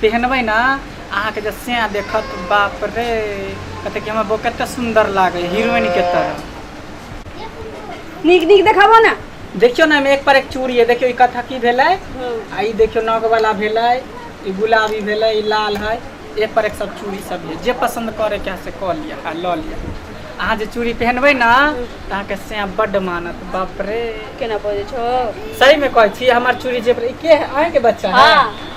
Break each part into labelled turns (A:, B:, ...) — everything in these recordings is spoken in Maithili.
A: पहिरबै ने अहाँके जे सैह देखत बाप रे कहते कि हमर बो कते सुंदर लागे हीरोइन के तरह नीक
B: नीक देखाबो ने देखियो ना एक पर
A: एक चूड़ी है देखियो ई कथा की भेलै आ ई देखियो नग वाला भेलै ई गुलाबी भेलै ई लाल है एक पर एक सब चूड़ी सब है जे पसंद करे के से कऽ लिअ आ लऽ लिअ अहाँ जे चूड़ी पहनबै ना तऽ अहाँके सैह बड्ड मानत बाप रे केना बजै छौ
B: सही में कहै छी
A: हमर चूड़ी जे ई के है अहाँ के बच्चा है हाँ।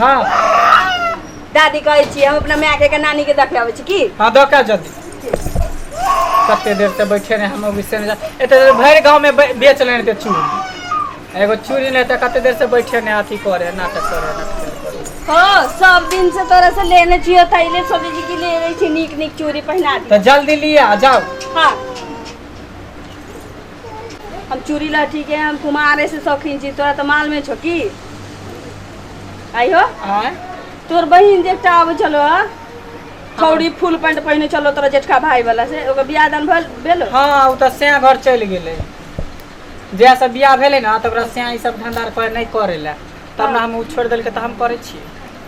B: हाँ दादी कहै छी हम अपना माय के नानी के देखे आबै छी की हाँ दऽ का जल्दी
A: कते देर से बैठे रहे हम विषय ने एते देर भरि गांव में बे- बेच लेने थे चूड़ी एगो चूड़ी नहीं था कते देर से बैठे ने अथी करे नाटक करे नाटक करे हाँ सब
B: दिन से तोरा से लेने छियो तैले सोचे छी कि ले रही छी नीक नीक चूड़ी पहना दी तो जल्दी लिया जाओ हाँ हम चूड़ी लहठी के हम कुमारे से शौकीन छी तोरा तऽ मालूमे छौ की आइयो आँय तोर
A: बहिन जे
B: एकटा आबै छलो हँ छौड़ी फुल पैंट पहिने छलो तोरा जेठका भाई वाला से ओकर बियाह दान भेल भेलो हँ ओ तऽ स्याँ
A: घर चलि गेलै जहिया से बियाह भेलै ने तऽ ओकरा स्याँ ई सब धंधा आर करे नहि करे लए तब ने हम ओ छोड़ि देलकै तऽ हम करै छियै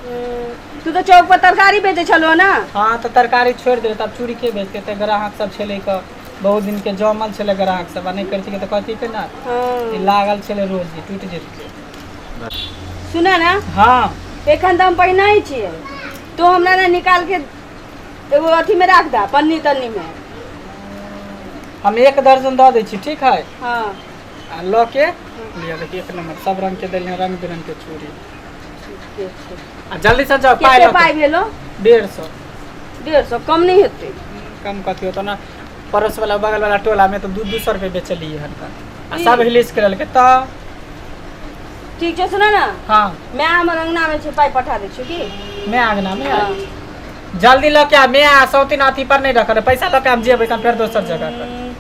A: हम्म, तू
B: तऽ चौक पर तरकारी बेचै छलो ने हँ तऽ तरकारी
A: छोड़ि देबै तब चूड़ी के बेचतै तऽ ग्राहक सब छेलै कऽ बहुत दिन के जमल छलै ग्राहक सब आ नहि करितियै तऽ कहती के ना हँ ई लागल छलै रोज जे टूटि जेतै सुन
B: ना हँ एखन
A: तऽ हम
B: पहिना ही छियै तो हमरा ने निकाल के एगो अथी में राख दा पन्नी तन्नी में
A: हम एक दर्जन दऽ दै छी ठीक है हाँ आ
B: लऽ
A: के लिअ देखिए एक नम्बर सब रंग के देलियै रंग बिरंग के चूड़ी ठीके छै आ जल्दी से जाओ पाई कते पाइ भेलो
B: डेढ़ सौ
A: डेढ़ सौ
B: कम नहि हेतै कम कथी होतो
A: ना पड़ोस वाला बगल वाला टोला में तो दू दू सौ रुपये बेचलिए हन का आ ई। सब हिलिस के लेलके तो
B: ठीक छै सुनऽ ने हाँ माय हमर
A: अङ्गनामे
B: छै पाइ पठा दै छियौ की मैं आंगना में हाँ।
A: आई। जल्दी लऽ के आ मैं आ सौतीन अथी पर नहीं रखल है। पैसा लऽ के हम जेबै कम फेर दोसर जगह पर हम्म,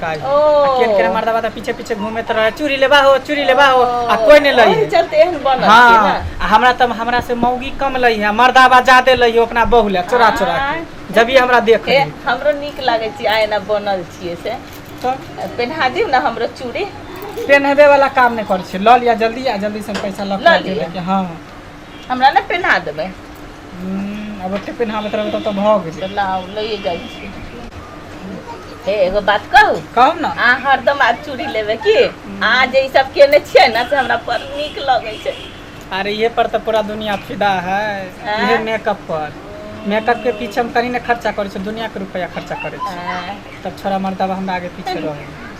A: काज ओ। आ केन केन मर्दवा त पीछे पीछे घूमे तरह चूड़ी लेबा हो चूड़ी लेबा हो आ कोई नहीं लई ओही है चलते एहन बनल छै हाँ
B: ना। आ हमरा
A: तब हमरा से मौगी कम लई है मर्दावा ज्यादा लई है अपना बहू ले चोरा चोरा के। आँय। जब ये हमरा देख ए हमरो नीक लागै
B: छै आइ एना बनल छियै से तो पेन्हा दिउ ने हमरो चूड़ी पेनहबे वाला
A: काम नहीं करे छै लऽ लिया जल्दी आ जल्दी से हम पैसा लऽ लऽ के लिअ। देबे के हाँ हमरा ने
B: पेन्हा देबै हूँ
A: आब ओते पेनहाबैत रहबै तब तऽ भऽ गेलै चल आउ लैए जाइ
B: छी हे एगो बात कहू कहू ने अहाँ हरदम
A: आज चूड़ी
B: लेबै की अहाँ जे ई सब केने छियै ने से हमरा बड़ नीक लगै छै अरे ये पर तऽ
A: पूरा दुनिया फिदा है आँय? इहे मेकअप पर मेकअप के पीछे हम कनी ने खर्चा करै छी दुनिया के रुपया खर्चा करै छी आँय, तब छोरा मर्दबा हमरा आगे पीछे रहै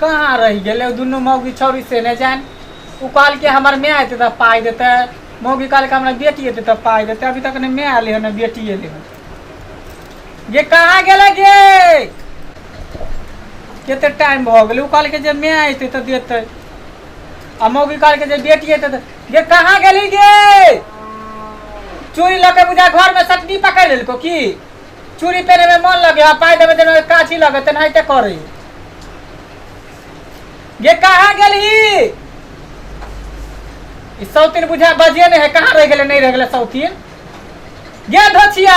A: कहाँ रहि गेलै दुनू मौगी छौरी से नहि जान ओ कहलकै हमर माय एतै तऽ पाइ देतै मौगी कहलकै हमरा बेटी एतै तऽ पाइ देतै अभी तक नहि माय अयलै हन बेटी अयलै हन गे कहाँ गेलै गे कते टाइम भऽ गेलै ओ कहलकै जे माय एतै तऽ देतै आ मौगी कहलकै जे बेटी एतै तऽ गे कहाँ गेली गे चोरी लऽ के बुझा घरमे सटनी पकड़ि लेलको की चूड़ी पहने में मन लगे हाँ पाई देवे देवे काची लगे ते नहीं ते करी ये कहाँ गेल ही ई सौतीन बुझा बजिए नहीं है कहाँ रह गेले नहीं रह गेले सौतीन ये धोचिया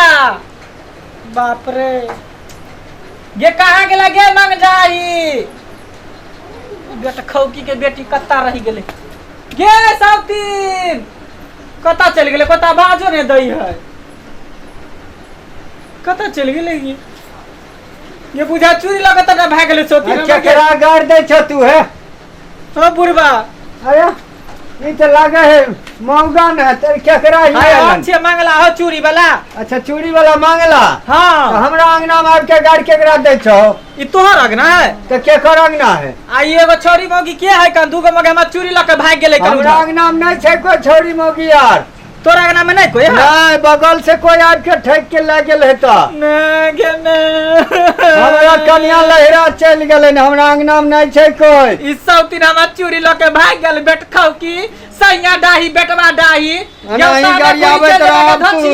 A: बाप रे ये कहाँ गेला गे मंग जाई बेटा खौकी के बेटी कत्ता रह गेले गे सौतीन कत्ता चल गेले कत्ता बाजो नहीं दई है कतऽ चलि गेलै ई ये बुझा चूड़ी लऽ कऽ तटा भए गेलै सोती अरे केकरा गाड़ दै
C: छ तू हे ओ
A: बुढ़बा अरे
C: ई तऽ लागे है महंगा न है तेरे केकरा ही हाय आलन। अच्छे मंगला हो
A: चूड़ी वाला अच्छा चूड़ी वाला
C: मांगला तो हाँ हमरा
A: अंगना में आबि
C: के गाड़ केकरा दै छौ ई तोहर अगना
A: है तो केकर अंगना
C: है आ ई एगो छोरी
A: मौगी के है कन दूगो मगे हमरा चूड़ी लऽ कऽ भागि गेलै कन हमरा अंगना में नहीं छै
C: कोई छोरी मोगी यार तोरा अंगना में नहीं
A: कोई नहीं बगल
C: से कोई
A: आबि के ठेक
C: के ले गेल हेता हमरा कनिया लहरा चलि गेलै ने हमरा अंगना में नहीं छै कोई ई सब दिन हमार
A: चूड़ी लऽ के भाग गेल बेटखौ की सैया डाही बेटवा डाही अना ही गाड़ी
C: आबैत रहब तू।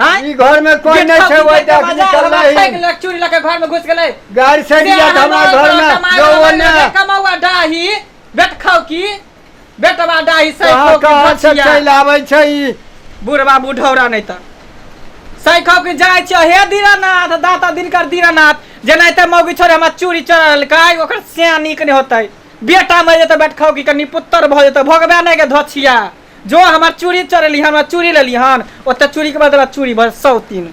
A: हाँ? ई घर में कोई
C: नहीं छे ओइ तक निकल नहीं चूड़ी
A: लके घर में घुस गेलै गाड़ी से दिया था
C: हमारे घर में जो वो ने कमावा डाही
A: बेट खाऊ की बेटवा डाही सही कहाँ कहाँ से चल आवे
C: छे ई बुढ़वा बुढ़ौरा
A: नहीं त सही खाऊ की जाय छे हे दीनानाथ दाता दिनकर दीनानाथ जेना ते मौगी छोरे हमरा चूड़ी चढ़ल काय ओकर सिया नीक नहीं होतै बेटा मर जेतै बेट खाऊ की कनी पुत्र भ जेतै भोगबे नहीं के धछिया जो हमर चूड़ी चोरेली हन हमरा चूड़ी लेली हन ओतऽ चूड़ीके बदला चूड़ी बस सौतीन